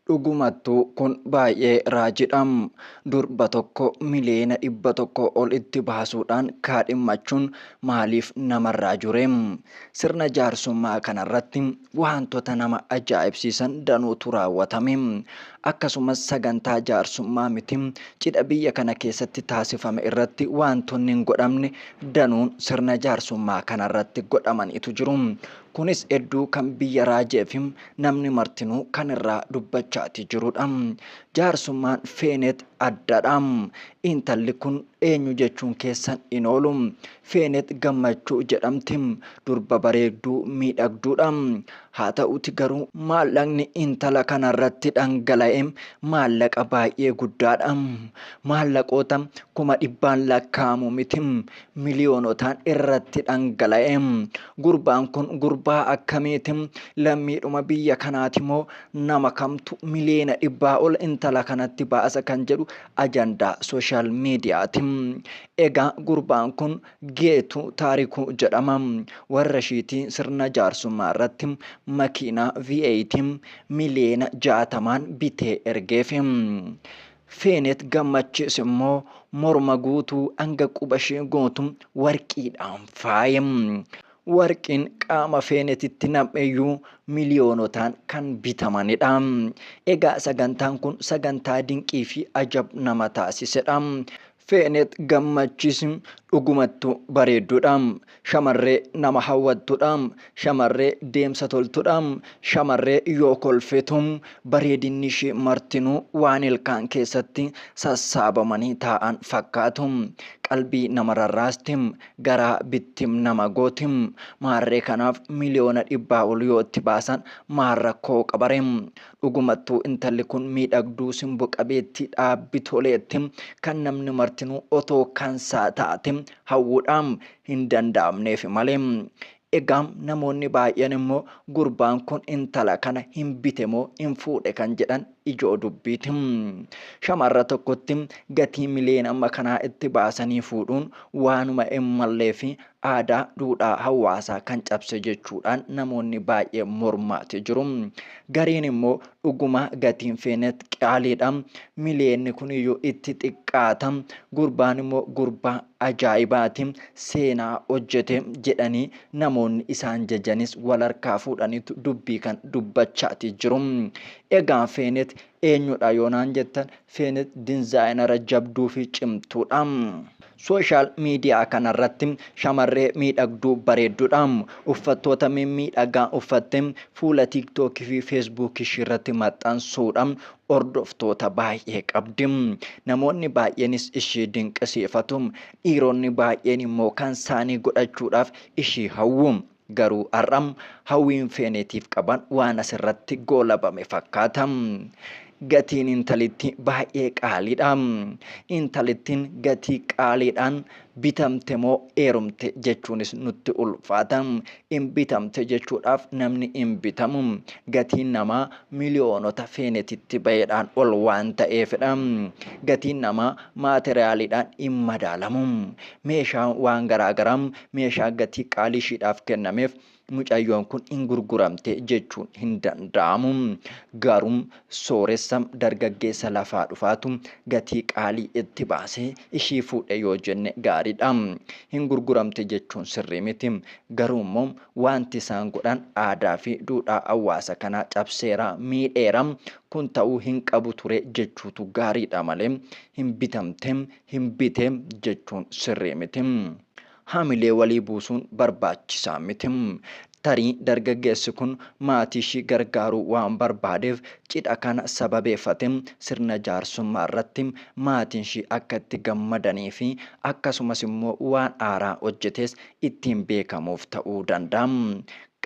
Dhugumattu kun baay'ee raajidha. Durba tokko miliyeena dhibba tokko ol itti baasuudhaan kaadhimmachuun maaliif namarraa jure? Sirna jaarsummaa kanarratti waantota nama ajaa'ibsiisan danuutu raawwatame. Akkasumas sagantaa jaarsummaa miti cidha biyya kana keessatti taasifame irratti waantonni hin godhamne danuun sirna jaarsummaa kanarratti godhamaniitu jiru. Kunis edduu kan biyya raajeefi namni martinuu kan irraa dubbachaati jirudha. Jaarsummaan Feeneet addadha. Intalli kun eenyu jechuun keessan hin oolu. Feeneet Gammachuu jedhamti. Durba bareegduu, miidhagduudha. Haa ta'uti garuu maallaqni intala kanarratti dhangala'e maallaqa baay'ee guddaadha. Maallaqoota kuma dhibbaan lakkaa'amu miti. miliyoonotaan irratti dhangala'e. Gurbaan kun gurbaa akkamiiti? Lammiidhuma biyya kanaati moo nama kamtu miliyoona dhibbaa ol intala kanatti baasa kan jedhu ajandaa sooshaal miidiyaati. Egaa gurbaan kun Geetu Taarikuu jedhama. Warra ishiitii sirna jaarsummaa irratti makiinaa V8 miliyoona jaatamaan bitee ergeefi. Feenet Gammachiis immoo morma guutuu hanga quba ishee guutu warqiidhaan faaye. Warqiin qaama Feenetitti nam'eyyuu miliyoonotaan kan bitamanidha. Egaa sagantaan kun sagantaa dinqii fi ajab nama taasisedha. Feenet Gammachis dhugumattu bareeddudha. Shamarree nama hawwattudha. Shamarree deemsa toltudha. Shamarree yoo kolfitu bareedinni ishii martinuu waan ilkaan keessatti sassaabamanii taa'an fakkaatu. Qalbii nama rarraasti. Garaa bittim nama gooti. Maarree kanaaf miliyoona dhibbaa ol yoo itti baasan maal rakkoo qabaree? Dhugumattuu intalli kun miidhagduu, simbo qabeettii dha, bitoleetti, kan namni martinuu otoo kansaa taate hawwuudhaam hin danda'amneefi malee. Egaa namoonni baay'een immoo gurbaan kun intala kana hin bite moo hin fuudhe kan jedhan ijoo dubbiiti. Shamarra tokkotti gatii miliyoona amma kanaa itti baasanii fuudhuun waanuma hin malleefi aadaa duudhaa hawaasaa kan cabse jechuudhaan namoonni baay'ee mormaati jiru. Gariin immoo dhugumaa gatiin feenet qaaliidha. Miliyeenni kun iyyuu itti xiqqaata. Gurbaan immoo gurbaa ajaa'ibaati. Seenaa hojjete jedhanii namoonni isaan jajanis wal harkaa fuudhaniitu dubbii kan dubbachaati jiru. Egaa feenet Eenyudha yoo naan jettan Feenix dinzaayinara jabduu fi cimtuudha. Sooshaal miidiyaa kanarratti shamarree miidhagduu bareeddudha. Uffattoota mimmiidhagaa uffattee fuula TikTok fi Facebook ishiirratti maxxansuudhaan hordoftoota baay'ee qabdi. Namoonni baay'eenis ishii dinqisiifatu. Dhiironni baay'een immoo kansaanii godhachuudhaaf ishii hawwu. Garuu har'a hawwiin Feeneetiif qaban waan asirratti goolabame fakkaata. Gatiin intalitti baay'ee qaaliidha. Intalittiin gatii qaaliidhaan bitamte moo heerumte jechuunis nutti ulfaata. In bitamte jechuudhaaf namni hin bitamu. Gatiin namaa miliyoonota Feeneetitti ba'eedhaan ol waan ta'eefidha. Gatiin namaa maateriyaaliidhaan hin madaalamu. Meeshaan waan garaagaraa meeshaa gatii qaalii ishiidhaaf kennameef mucayyoon kun hin gurguramte jechuun hin danda'amu. Garuu sooressa dargaggeessa lafaa dhufaatu gatii qaalii itti baasee ishii fuudhe yoo jenne gaariidha. Hin gurguramte jechuun sirrii miti. Garuu immoo wanti isaan godhan aadaa fi duudhaa hawaasa kanaa cabseera, miidheera. Kun ta'uu hin qabu ture jechuutu gaariidha malee hin bitamte, hin bite jechuun sirrii miti. Hamilee walii buusuun barbaachisaa miti. Tarii dargaggeessi kun maatii ishii gargaaruu waan barbaadeef cidha kana sababeeffatee sirna jaarsummaa irratti maatiin ishii akka itti gammadanii fi akkasumas immoo waan haaraa hojjetees ittiin beekamuuf ta'uu danda'a.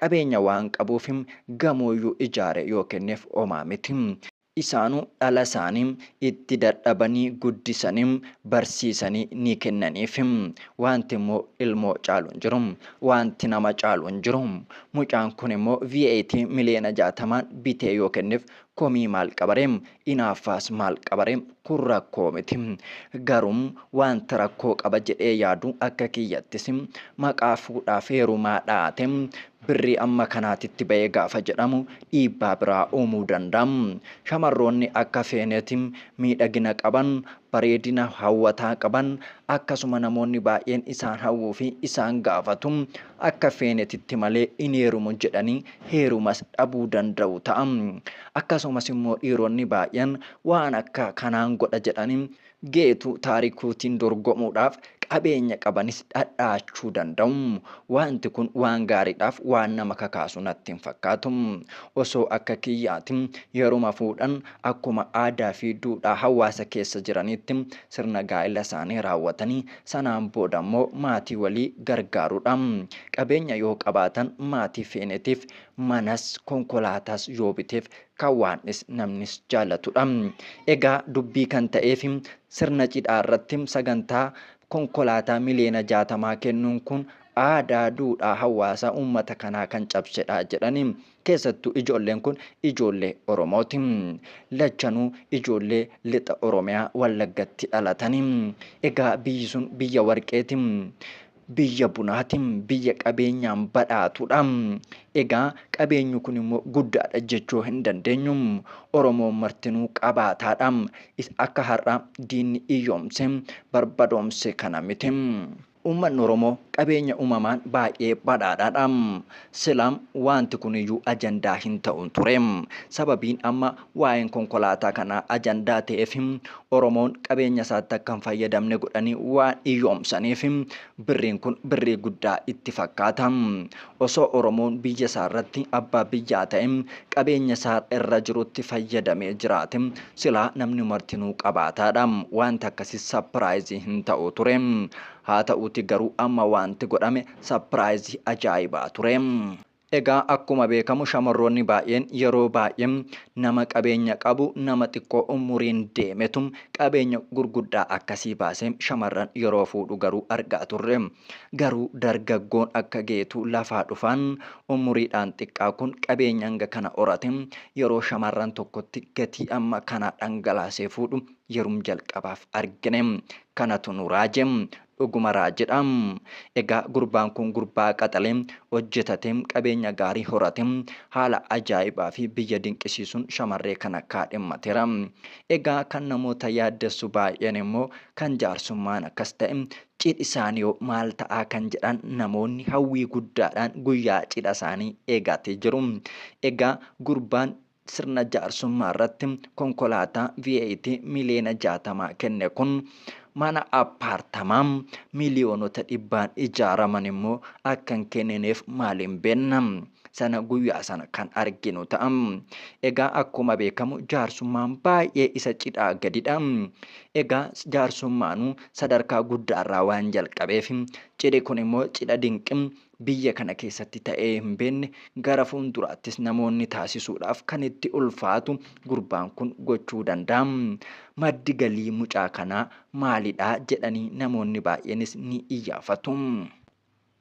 Qabeenya waan qabuuf gamoo iyyuu ijaaree yoo kenneef homaa miti. Isaanu dhala isaani itti dadhabani guddisani barsiisani ni kennaniifi. Waanti immoo ilmoo caalu hin jiru. Waanti nama caalu hin jiru. Mucaan kun immoo VAT miliyoona jaatamaan bitee yoo kenneef komii maal qabare? Inaaffaas maal qabare? Kun rakkoo miti. Garuu waanti rakkoo qaba jedhee yaadu akka kiyyattis maqaa fuudhaaf heerumaa dhahate Birrii amma kanaatitti ba'e gaafa jedhamu dhiibbaa biraa uumuu danda'a. Shamarroonni akka feeneeti miidhagina qaban, bareedina hawwataa qaban, akkasuma namoonni baay'een isaan hawwuu fi isaan gaafatu akka feenetitti malee hin heerumu jedhanii heerumas dhabuu danda'u ta'a. Akkasumas immoo dhiironni baay'een waan akka kanaan godha jedhanii Geetuu Taarikuutiin dorgomuudhaaf qabeenya qabanis dhadha'achuu danda'u. Waanti kun waan gaariidhaaf waan nama kakaasu natti hin fakkaatu. Osoo akka kiyyaati yeruma fuudhan akkuma aadaa fi duudhaa hawaasa keessa jiraniitti sirna gaa'ila isaanii raawwatanii sanaan booda immoo maatii walii gargaaruudha. Qabeenya yoo qabaatan maatii feeneetiif manas konkolaataas yoo biteef kan Waandhis namnis jaallatudha. Egaa dubbii kan ta'eef sirna cidhaa irratti sagantaa konkolaataa miliyoona jaatamaa kennuun kun aadaa, duudhaa hawaasaa uummata kanaa kan cabsedha jedhani. Keessattuu ijoolleen kun ijoollee Oromooti. Lachanuu ijoollee Lixa Oromiyaa Wallaggatti dhalatani. Egaa biyyi sun biyya warqeeti. biyya bunaati, biyya qabeenyaan badhaatudha. Egaa qabeenyi kun immoo guddaadha jechuu hin dandeenyu. Oromoon martinuu qabaataadha. Isa akka har'aa diinni iyyoomse, barbadoomse kana miti. Uummanni Oromoo qabeenya uumamaan baay'ee badhaadhaadha. Silaa waanti kuniyyuu ajandaa hin ta'u ture. Sababiin amma Waa'een konkolaataa kanaa ajandaa ta'eef Oromoon qabeenya isaatti akka hin fayyadamne godhanii waan hiyyoomsaniif birriin kun birrii guddaa itti fakkaata. Osoo Oromoon biyya isaa irratti abbaa biyyaa ta'e qabeenya isaa irra jirutti fayyadamee jiraate silaa namni martinuu qabaataadha. Waanti akkasii sapiraayizii hin ta'u ture. Haa ta'uuti garuu amma waanti godhame sapiraayizii ajaa'ibaa ture. Egaa akkuma beekamu shamarroonni baay'een yeroo baay'ee nama qabeenya qabu nama xiqqoo umuriin deemetu qabeenya gurguddaa akkasii baasee shamarran yeroo fuudhu garuu argaa turre. Garuu dargaggoon akka Geetuu lafaa dhufaan umuriidhaan xiqqaa kun qabeenya hanga kana horate yeroo shamarran tokkotti gatii amma kanaa dhangalaasee fuudhu yerum jalqabaaf argine. Kanatu nu raaje. Dhuguma raajidha. Egaa gurbaan kun gurbaa qaxale, hojjetate, qabeenya gaarii horate, haala ajaa'ibaa fi biyya dinqisiisuun shamarree kana kaadhimmateera. Egaa kan namoota yaaddessu baay'een immoo kan jaarsummaan akkas ta'e cidhi isaaniihoo maal ta'aa kan jedhan namoonni hawwii guddaadhaan guyyaa cidha isaanii eegaati jiru. Egaa gurbaan sirna jaarsummaa irratti konkolaataa VAT miliyoona 60 kenne kun mana appaartamaa miliyoonota dhibbaan ijaaraman immoo akka hin kennineef maaliin beenna? Sana guyyaa sana kan arginu ta'a. Egaa akkuma beekamu jaarsummaan baay'ee isa cidhaa gadidha. Egaa jaarsummaanuu sadarkaa guddaarraa waan jalqabeef cidhi kun immoo cidha dinqi biyya kana keessatti ta'ee hin beekne gara fuulduraattis namoonni taasisuudhaaf kan itti ulfaatu gurbaan kun gochuu danda'a. Maddi galii mucaa kanaa maalidha jedhanii namoonni baay'eenis ni iyyaafatu.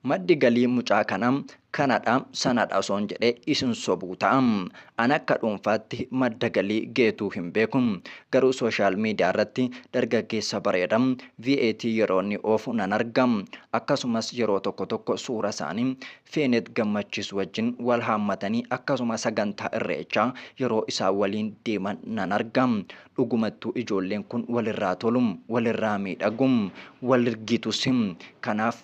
Maddi galii mucaa kanaa kanadha sanadha osoon jedhee isin sobuu ta'a. An akka dhuunfaatti madda galii Geetuu hin beeku. Garuu social media irratti dargaggeessa bareeda VAT yeroo inni oofu nan arga. Akkasumas yeroo tokko tokko suura isaanii Feenet Gammachiis wajjin wal haammatanii akkasuma sagantaa Irreechaa yeroo isaan waliin deeman nan arga. Dhugumattuu ijoolleen kun walirraa tolu, walirraa miidhagu, walrgitus. Kanaaf.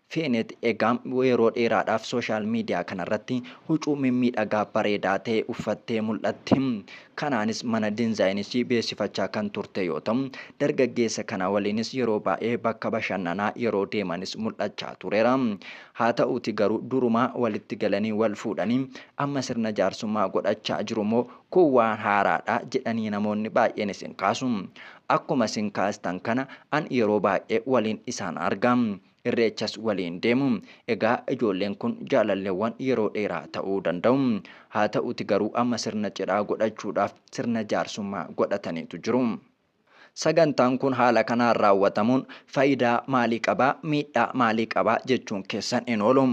Feenet egaa yeroo dheeraadhaaf sooshaal miidiyaa kanarratti hucuu mimmiidhagaa bareedaa ta'e uffattee mul'atti. Kanaanis mana dinzaayinii ishii beeksifachaa kan turte yoo ta'u, dargaggeessa kana waliinis yeroo baay'ee bakka bashannanaa yeroo deemanis mul'achaa tureera. Haa ta'uutii garuu durumaa walitti galanii wal fuudhanii amma sirna jaarsummaa godhachaa jiru moo kun waan haaraadha jedhanii namoonni baay'een isin kaasu. Akkuma isin kaastan kana an yeroo baay'ee waliin isaan arga. Irreechas waliin deemu. Egaa ijoolleen kun jaalalleewwan yeroo dheeraa ta'uu danda'u. Haa ta'uti garuu amma sirna cidhaa godhachuudhaaf sirna jaarsummaa godhataniitu jiru. Sagantaan kun haala kanaan raawwatamuun faayidaa maalii qaba, miidhaa maalii qaba jechuun keessan hin oolu.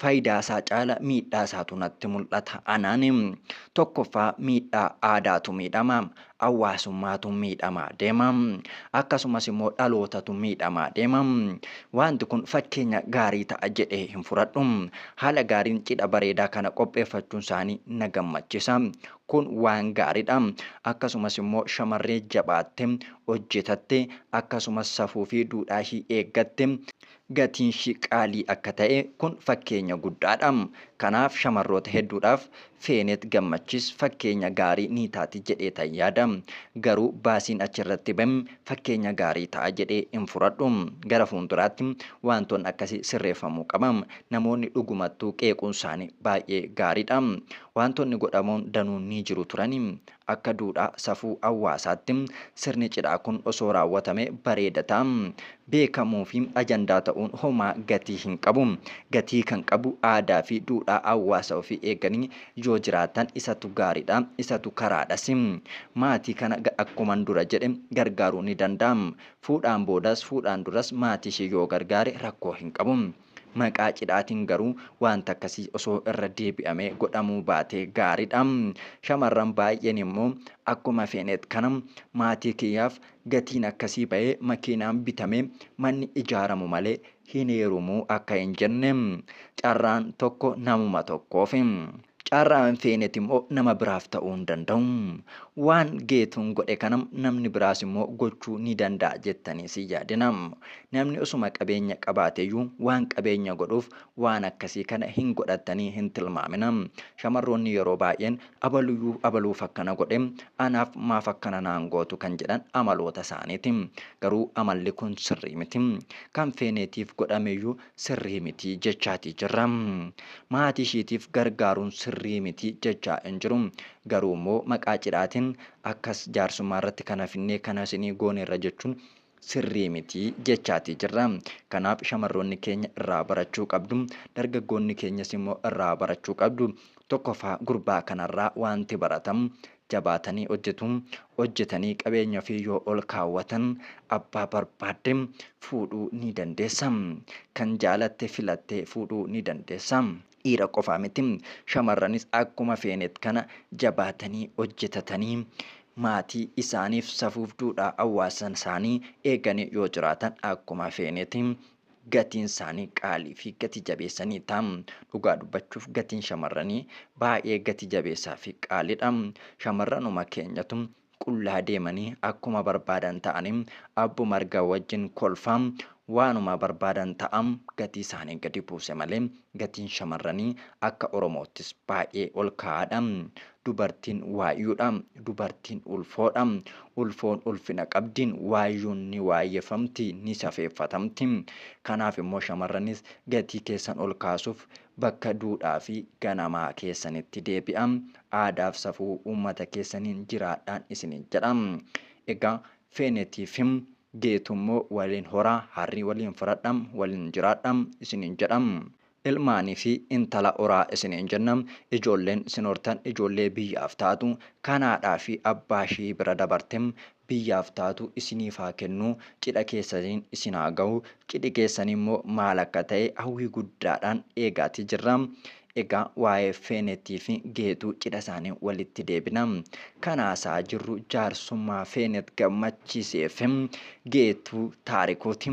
Faayidaasaa caala miidhaasaatu natti mul'ata anaani. Tokkoffaa miidhaa aadaatu miidhama. Hawaasummaatu miidhamaa deema. Akkasumas immoo dhalootatu miidhamaa deema. Waanti kun fakkeenya gaarii ta'a jedhee hin furadhu. Haala gaariin cidha bareedaa kana qopheeffachuun isaanii na gammachisa. Kun waan gaaridha. Akkasumas immoo shamarree jabaatte, hojjetatte, akkasumas safuu fi duudhaa ishii eeggatte, gatiinshi qaalii akka ta'e kun fakkeenya guddaadha. Kanaaf shamarroota hedduudhaaf Feenet Gammachis fakkeenya gaarii ni taati jedheetan yaada. Garuu baasiin achirratti bahe fakkeenya gaarii ta'a jedhee hin furadhu. Gara fuulduraatti waantoonni akkasii sirreeffamuu qaba. Namoonni dhugumattuu qeequunsaanii baay'ee gaariidha. Waantoonni godhamoon danuun ni jiru turani. Akka duudhaa safuu hawaasaatti sirni cidhaa kun osoo raawwatamee bareeda ta'a. Beekamuufi ajandaa ta'uun homaa gatii hin qabu. Gatii kan qabu aadaafi duudhaa hawaasa ofii eeganii yoo jiraatan isatu gaariidha, isatu karaadhasi. Maatii kana akkuman dura jedhe gargaaruun ni danda'ama. Fuudhaan boodas, fuudhaan duras maatiishee yoo gargaare rakkoo hin qabu. Maqaa cidhaatiin garuu waanti akkasii osoo irra deebi'amee godhamuu baatee gaariidha. Shamarran baay'een immoo akkuma feeneet kana maatii kiyyaaf gatiin akkasii ba'ee makiinaan bitamee manni ijaaramu malee hin heerumu akka hin jenne carraan tokko namuma tokkoofi. Carraa hin feeneti immoo nama biraaf ta'uu hin danda'u. Waan Geetuun godhe kana namni biraas immoo gochuu ni danda'a jettaniis hin yaadinaa. Namni osuma qabeenya qabaate iyyuu waan qabeenya godhuuf waan akkasii kana hin godhattanii hin tilmaaminaa. Shamarroonni yeroo baay'een abaluyyuu abaluuf akkana godhe anaaf maaf akkana naan gootu kan jedhan amaloota isaaniiti. Garuu amalli kun sirrii miti. Kan feeneetiif godhame iyyuu sirrii miti jechaatii jirra. Maatii ishiitiif gargaaruun sirrii miti jechaa hin jiru. Garuu immoo maqaa cidhaatiin akkas jaarsummaa irratti kana finnee kana isinii gooneerra jechuun sirrii miti jechaatii jirra. Kanaaf shamarroonni keenya irraa barachuu qabdu. Dargaggoonni keenyas immoo irraa barachuu qabdu. Tokkoffaa gurbaa kanarraa waanti baratamu jabaatanii hojjetu. Hojjetanii qabeenya ofii yoo ol kaawwatan abbaa barbaadde fuudhuu ni dandeessa. Kan jaalatte filattee fuudhuu ni dandeessa. Dhiira qofaa miti shamarranis akkuma feenet kana jabaatanii hojjetatanii maatii isaaniif safuuf duudhaa hawaasasaanii eeganii yoo jiraatan akkuma feenet gatiin isaanii qaalii fi gati jabeessanii dha. Dhugaa dubbachuuf gatiin shamarranii baay'ee gati jabeessaa fi qaalii dha. Shamarranuma keenyatu qullaa deemanii akkuma barbaadan ta'anii abbo margaa wajjin kolfaa waanuma barbaadan ta'a gatii isaanii gadi buuse malee gatiin shamarranii akka Oromoottis baay'ee ol ka'aa dha. Dubartiin waayyuudha. Dubartiin ulfoodha. Ulfoon ulfina qabdi. Waayyuun ni waayyeffamti, ni safeeffatamti. Kanaaf immoo shamarranis gatii keessan ol kaasuuf bakka duudhaa fi ganamaa keessanitti deebi'aa. Aadaaf safuu uummata keessaniin jiraadhaan isiniin jedha. Egaa Feenetiifim Geetuu immoo waliin horaa, harrii waliin fudhadhaa, waliin jiraadhaa isiniin jedha. Ilmaanii fi intala horaa isiniin jenna. Ijoolleen sin hortan ijoollee biyyaaf taatu, kan haadhaa fi abbaa ishii bira dabarte biyyaaf taatu isiniif haa kennu, cidha keessaniin isin haa gahu. Cidhi keessan immoo maal akka ta'e hawwii guddaadhaan eegaatii jirra. Egaa waa'ee Feeneetii fi Geetuu cidha isaanii walitti deebina. Kan haasa'aa jirru jaarsummaa Feenet Gammachiisee fi Geetuu Taarikuuti.